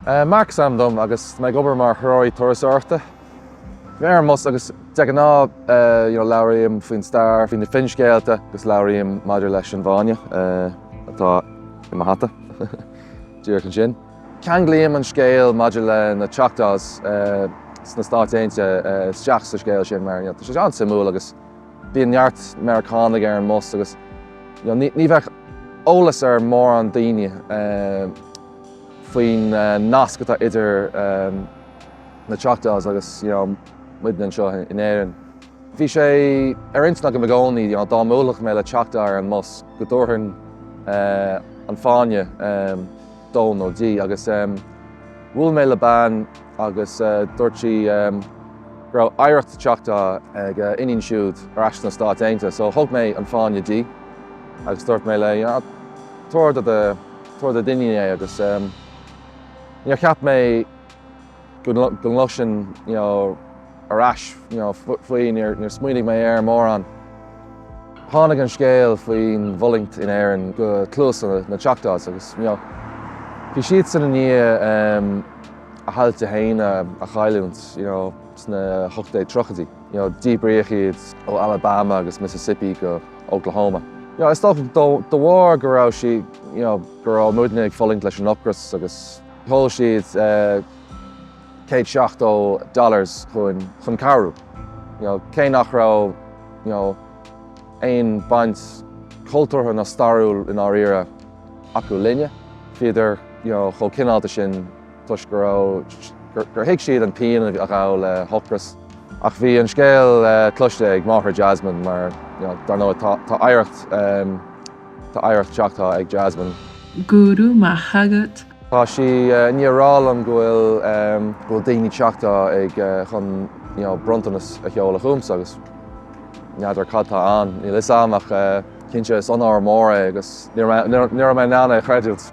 Mark is ainm dom agus mé ag obair mar threoraí turasóireachta. Bhí mé ar an mbus agus de ghnáth you know labhraím faoin stair, faoi na finscéalta agus labhraím maidir leis an bhfáinne atá i mo hata díreach ansin. Ceanglaím an scéal maidir le na Choctaws sna Stáit Aontaithe isteach sa scéal sin mar you know tá sé an-suimiúil agus bíonn neart Meiriceánaigh ar an mbus agus you know ní bheadh eolas ag mórán daoine. faoin nasc atá idir na Choctaws agus muidne anseo in Éirinn. Bhí sé ar intinn agam i gcónaí dá mbuailfeadh mé le Choctaw ar an mbus go dtabharfainn an fáinne dó nó di agus bhuail mé le bean agus dúirt sí go raibh oidhreacht Choctaw ag a iníon siúd ar ais sna Stáit Aontaithe so thug mé an fáinne di agus dúirt mé léi, tabhair do do Tabhair do d'iníon é agus níor cheap mé go gcloisfinn ar ais faoi. Níor smaoinigh mé air mórán. Tháinig an scéal faoin bhfulaingt in Éirinn go cluasa na Choctaws agus bhí siadsan i ndiaidh a dtailte féin a chailliúint sna hocht déag tríochaidí. Díbríodh iad ó Alabama agus Mississippi go Oklahoma. Is dócha de bharr go raibh sí, go raibh muidne ag fulaingt leis an ocras agus sheol siad $170 chun cabhrú. Cé nach raibh aon bhaint cultúrtha ná stairiúil i ndáiríre acu linne, bhíodar chomh cineálta sin. toisc go raibh, gur thuig siad an pian a ghabh le hocras. Ach bhí an scéal cloiste ag máthair Jasmine mar, dar ndóigh, tá oidhreacht, tá oidhreacht Choctaw ag Jasmine. Go raibh maith agat. Tá sí i ndiaidh a rá liom go bhfuil, go bhfuil daoine Choctaw ag, chun bronntanas a sheoladh chugamsa agus n'fheadar cad tá ann, níl 'fhios a'm ach cinnte is onóir mór é agus ní raibh mé in ann é a chreidiúint.